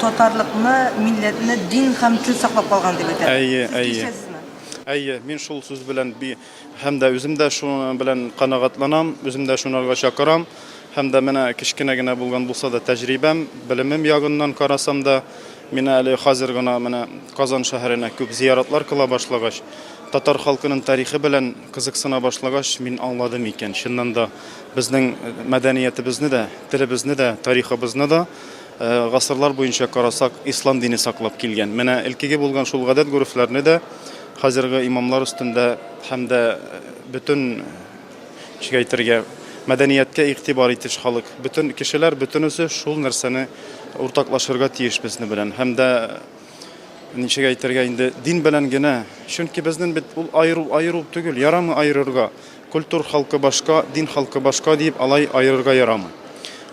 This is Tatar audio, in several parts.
Татарлыкны, милләтне, дин һәм тел саклап калган дип әйтә. Әйе, әйе. Әйе, мин шул сүз белән би һәм дә үзем дә шуның белән канагатланам, үзем дә шунарга чакырам. Һәм дә менә кечкенә генә булган булса да тәҗрибәм, белемем ягыннан карасам да, мин әле хәзер гына менә Казан шәһәренә күп зияратлар кыла башлагач, татар халкының тарихы белән кызыксына башлагач, мин аңладым икән, чыннан да Безнең мәдәниятебезне дә, телебезне дә, тарихыбызны да гасырлар буенча карасак, ислам дине саклап килгән. Менә элкеге булган шул гадәт-горефләрне дә хәзерге имамлар өстендә һәм дә бөтен ничек әйтергә, мәдәнияткә игътибар итүче халык, бөтен кешеләр бөтенесе шул нәрсәне уртаклашырга тиеш безне белән һәм дә ничек әйтергә инде, дин белән генә. Чөнки безнең бит ул аеру аеру түгел, ярамы аерырга. Культур халкы башка, дин халкы башка диеп алай аерырга ярамый.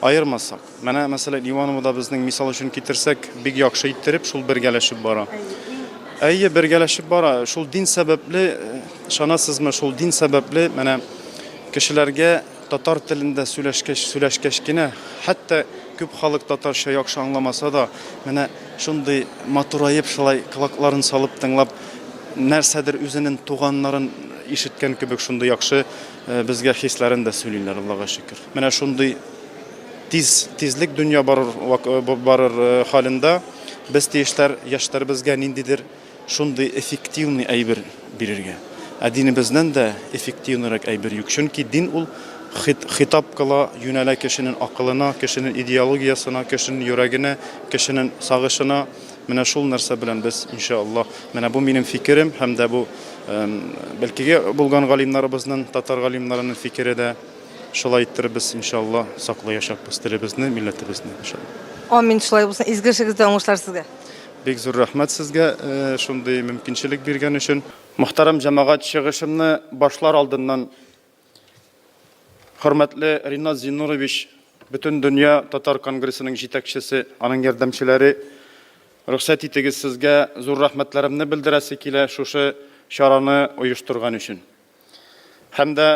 Аермасак. Менә, мәсәлән, Ивановода безнең мисал өчен китерсәк, бик яхшы иттереп шул бергәләшеп бара. Әйе, бергәләшеп бара. Шул дин сәбәпле, ышанасызмы, шул дин сәбәпле менә кешеләргә татар телендә сөйләшкәч, сөйләшкәч кенә, хәтта күп халык татарча яхшы аңламаса да, менә шундый матураеп шулай колакларын салып тыңлап, нәрсәдер үзенен туганнарын ишеткән кебек шундый яхшы э, безгә хисләрен дә сөйлиләр, Аллага шөкер. Менә шундый тиз тизлек дөнья барыр э, барыр э, халендә без тиешләр яшьләребезгә ниндидер шундый эффективный әйбер бирергә. Ә динебезнен дә эффективнырак әйбер юк. Чөнки дин ул хитап кыла, юнәлә кешенең акылына, кешенең идеологиясына, кешенең йөрәгенә, кешенең сагышына, Менә шул нәрсә белән без, инша Аллаһ, менә бу минем фикерем һәм дә бу бәлкиге булган галимнарыбызның, татар галимнарының фикере дә шулай иттербез, инша Аллаһ, саклаячакбыз телебезне, милләтебезне, инша Аллаһ. Амин, шулай булсын, изге эшегездә уңышлар сезгә. Бик зур рәхмәт сезгә шундый мөмкинчелек биргән өчен. Мөхтәрәм җәмәгать, чыгышымны башлар алдыннан Хөрмәтле Ринат Зиннурович, бөтен дөнья татар конгрессының җитәкчесе, аның ярдәмчеләре, рөхсәт итегез сезгә зур рәхмәтләремне белдерәсе килә шушы чараны оештырган өчен. Һәм дә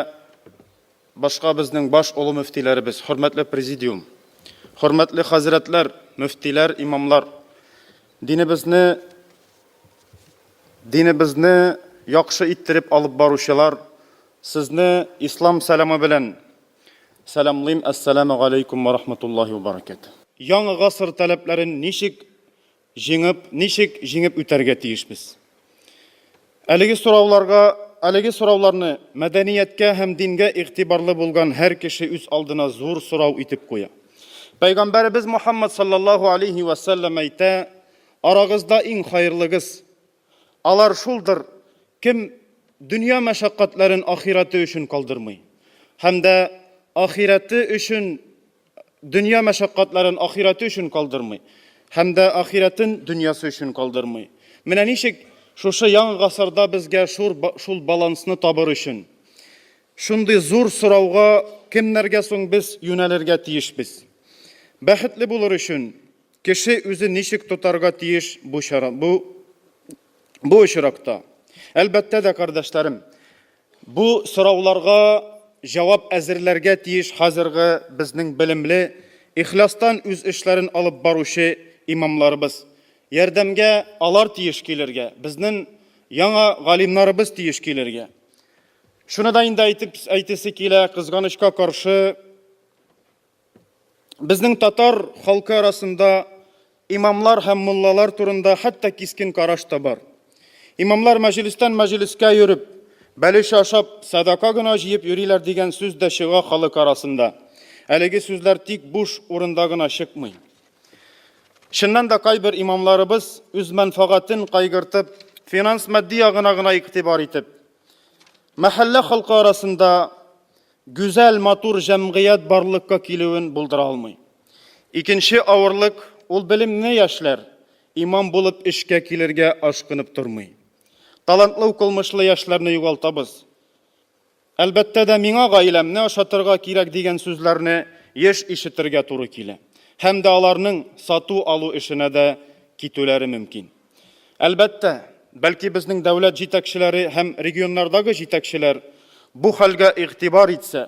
башка безнең баш олы мөфтиләребез, хөрмәтле президиум, хөрмәтле хәзрәтләр, мөфтиләр, имамлар, динебезне Динебезне яхшы иттереп алып баручылар, сезне Ислам сәламы белән сәламлыйм, Әссәләмү галәйкүм вә рахматуллаһи вә бәрәкәтүһ. Яңа гасыр таләпләрен ничек җиңеп, ничек җиңеп үтәргә тиешбез? Әлеге сорауларга, әлеге сорауларны мәдәнияткә һәм дингә игътибарлы булган һәр кеше үз алдына зур сорау итеп куя. Пәйгамбәребез Мухаммад салләллаһу алейһи вә сәлләм әйтә, Арагызда иң хаерлыгыз алар шулдыр, кем дөнья мәшәкатьләрен ахирәте өчен калдырмый һәм дә ахирәте өчен дөнья мәшәкатьләрен ахирәте өчен калдырмый һәм дә ахирәтен дөньясы өчен калдырмый. Менә ничек шушы яңа гасырда безгә шур шул балансны табыр өчен шундый зур сорауга кемнәргә соң без юнәлергә тиешбез? Бәхетле булыр өчен Кеше үзе ничек тотарга тиеш бу чара, бу, бу очракта? Әлбәттә дә, кардәшләрем, бу сорауларга җавап әзерләргә тиеш хәзерге безнең белемле, ихластан үз эшләрен алып баручы имамларыбыз. Ярдәмгә алар тиеш килергә, безнен яңа галимнарыбыз тиеш килергә. Шуны да инде әйтеп әйтесе килә, кызганычка каршы, Безнең татар халкы арасында имамлар һәм муллалар турында хәтта кискен караш та бар. Имамлар мәҗлестән мәҗлескә йөреп, бәлеш ашап, садака гына җыеп йөриләр дигән сүз дә чыга халык арасында. Әлеге сүзләр тик буш урында гына чыкмый. Чыннан да кайбер имамларыбыз үз мәнфәгатен кайгыртып, финанс-матди ягына гына игътибар итеп, мәхәллә халкы арасында Гүзәл, матур җәмгыять барлыкка килүен булдыра алмый. Икенче авырлык, ул белемле яшьләр, имам булып эшкә килергә ашкынып тормый. Талантлы укылмышлы яшьләрне югалтабыз. Әлбәттә дә, миңа гаиләмне ашатырга кирәк дигән сүзләрне еш ишетергә туры килә. Һәм дә аларның сату-алу эшенә дә китүләре мөмкин. Әлбәттә, бәлки безнең дәүләт җитәкчеләре һәм регионнардагы җитәкчеләр бу хәлгә игътибар итсә,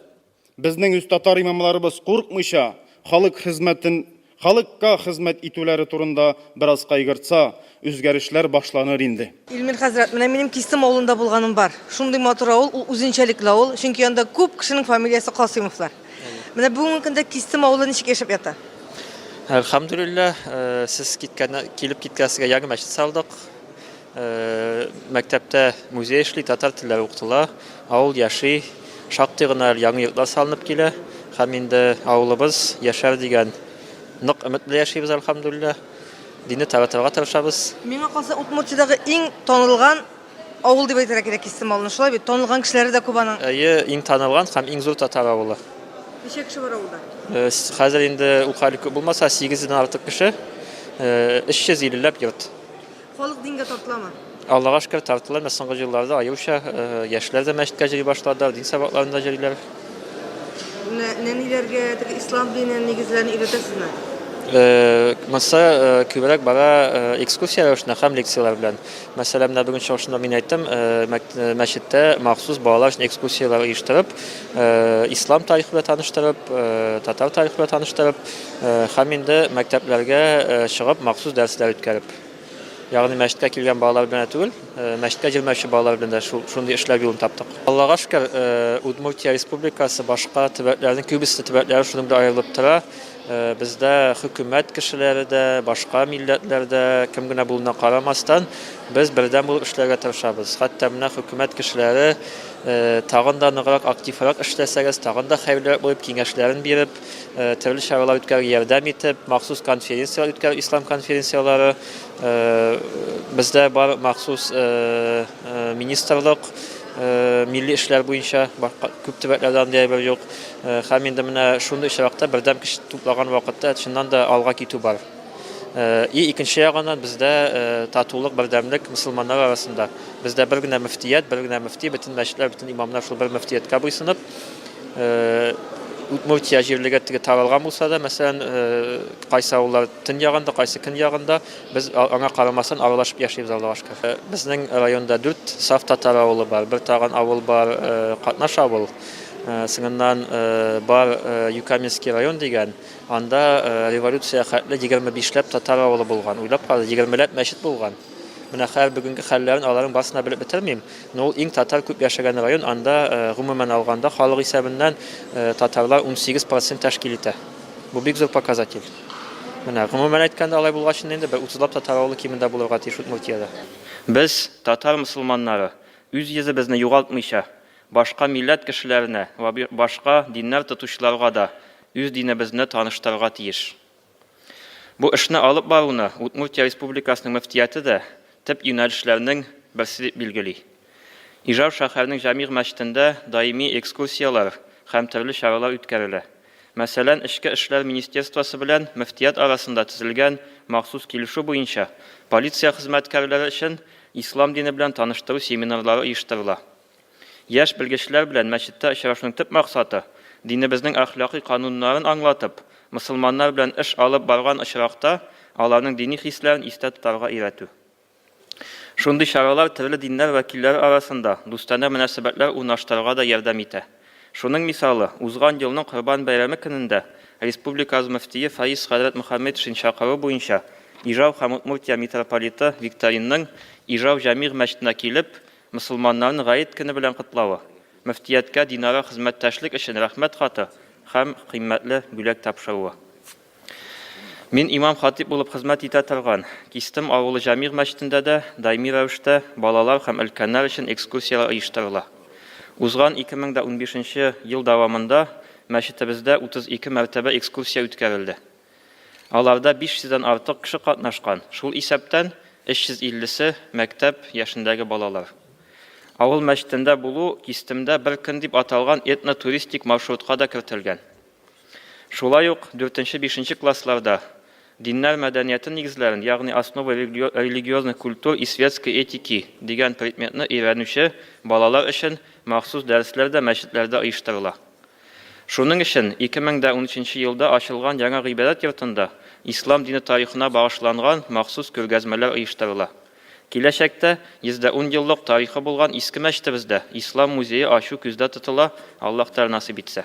безнең үз татар имамларыбыз курыкмыйча халык хезмәтен, халыкка хезмәт итүләре турында бераз кайгыртса, үзгәрешләр башланыр инде. Илмир хәзрәт, менә минем Кистем авылында булганым бар. Шундый матур авыл, ул үзенчәлекле авыл, чөнки анда күп кешенең фамилиясе Касыймовлар. Менә бүгенге көндә Кистем авылы ничек яшәп ята? Әлхәмдүлилләһ, э, сез киткән килеп киткәнсезгә яңа мәчет салдык. Э, мәктәптә музей эшли, татар телләре укытыла. Авыл яши, шактый гына яңа йортлар салынып килә. Һәм инде авылыбыз яшәр дигән нык өмет белән яшибез, әлхәмдүлилләһ. Динне таратырга тырышабыз. Миңа калса, Удмуртиядәге иң танылган Авыл дип әйтергә кирәк Кистемалны, шулай бит? Танылган кешеләре дә күп аның. Әйе, иң танылган һәм иң зур татар авылы. Ничә кеше бар авылда? Э, хәзер инде укаль күп булмаса 8 дән артык кеше, 350 э, ләп йорт. Халык дингә тартыламы? Аллага шөкер тартыла, менә соңгы елларда аюча э, яшьләр дә мәчеткә җыри башлады, дин сабакларында җөриләр. Нәниләргә теге ислам динен нигезләрен өйрәтәсезме? Монсы күбрәк бара экскурсия рәвешенә һәм лекцияләр белән. Мәсәлән, менә бүген чыгышында мин әйттем, мәчеттә махсус балалар өчен экскурсияләр оештырып, ислам тарихы белән таныштырып, татар тарихы белән таныштырып, һәм инде мәктәпләргә чыгып махсус дәресләр үткәреп. Ягъни мәчеткә килгән балалар белән түгел, мәчеткә җөрмәүче балалар белән дә шундый эшләр юлын таптык. Аллага шөкер, Удмуртия республикасы башка төбәкләрнең күбесе төбәкләре шуның белән аерылып тора. Бездә хөкүмәт кешеләре дә, башка милләтләр дә, кем генә булуына карамастан, без бердәм булып эшләргә тырышабыз. Хәтта менә хөкүмәт кешеләре тагын да ныграк, активрак эшләсәгез, тагын да хәерлерәк булып, киңәшләрен биреп, төрле чаралар үткәрергә ярдәм итеп, махсус конференцияләр үткәреп, ислам конференцияләре, бездә бар махсус Министрлык, милли эшләр буенча күп төбәкләрдә андый әйбер юк. Һәм инде менә шундый очракта бердәм көч туплаган вакытта чыннан да алга китү бар. И икенче ягыннан бездә татулык, бердәмлек мөселманнар арасында. Бездә бер генә мөфтият, бер генә мөфти, бөтен мәчетләр, бөтен имамнар шул бер мөфтияткә буйсынып, Удмуртия җирлеге теге таралган булса да, мәсәлән, кайсы авыллар төньягында, кайсы көньягында, Без аңа карамастан аралашып яшибез Аллага шөкер. Безнең районда дүрт саф татар авылы бар, бер тагын авыл бар, катнаш авыл. Соңыннан бар Юкаменский район дигән, анда революция хәтле егерме бишләп татар авылы булган. Уйлап кара, егермеләп мәчет булган. Менә хәзер бүгенге хәлләрен аларның барысын да белеп бетермим, но ул иң татар күп яшәгән район, анда гомумән алганда халык исәбеннән татарлар унсигез процент тәшкил итә. Бу бик зур показатель. Менә, гомумән әйткәндә, алай булгачын инде, бер утызлап татар авылы кимендә булырга тиеш Удмуртиядә. Без, татар мосылманнары, үз йөзебезне югалтмыйча, башка милләт кешеләренә вә башка диннәр тотучыларга да үз динебезне таныштырырга тиеш. Бу эшне алып баруны Удмуртия Республикасының мөфтияте дә төп юнәлешләрнең берсе дип билгели. Ижау шәһәрнең Җәмигъ мәчетендә даими экскурсияләр һәм төрле чаралар үткәрелә. Мәсәлән, Эчке эшләр министерствосы белән мөфтият арасында төзелгән махсус килешү буенча полиция хезмәткәрләре өчен ислам дине белән таныштыру семинарлары оештырыла. Яшь белгечләр белән мәчеттә очрашуның төп максаты, динебезнең әхлакый кануннарын аңлатып, мөселманнар белән эш алып барган очракта аларның дини хисләрен истә тотарга өйрәтү. Шундый чаралар төрле диннәр вәкилләре арасында дустанә мөнәсәбәтләр урнаштырырга да ярдәм итә. Шуның мисалы, узган елның Корбан бәйрәме көнендә республикабыз мөфтие Фаиз хәзрәт Мөхәммедшин чакыруы буенча Ижау һәм Удмуртия митрополиты Викторинның Ижау җәмигъ мәчетенә килеп, мөселманнарны Гает көне белән котлавы, мөфтияткә динара хезмәттәшлек өчен Рәхмәт хаты һәм кыйммәтле бүләк тапшыруы. Мин имам-хатип булып хезмәт итә торган Кистем авылы Җамигъ мәчетендә дә даими рәвештә балалар һәм өлкәннәр өчен экскурсияләр оештырыла. Узган 2015 ел дәвамында мәчетебездә 32 мәртәбә экскурсия үткәрелде. Аларда 500 дән артык кеше катнашкан, шул исәптән 350 се, мәктәп яшендәге балалар. Авыл мәчетендә булу Кистемдә бер көн дип аталган этно-туристик маршрутка да кертелгән. Шулай ук дүртенче-бишенче классларда Диннәр мәдәнияте нигезләрен, ягъни Основы религиозных культур и светской этики дигән предметны өйрәнүче балалар өчен махсус дәресләр дә мәчетләрдә оештырыла. Шуның өчен 2013 елда ачылган яңа гыйбадәт йортында ислам дине тарихына багышланган махсус күргәзмәләр оештырыла. Киләчәктә, 110 еллык тарихы булган Иске мәчетебездә Ислам музее ачу күздә тотыла, Аллаһ Тәгалә насыйп итсә.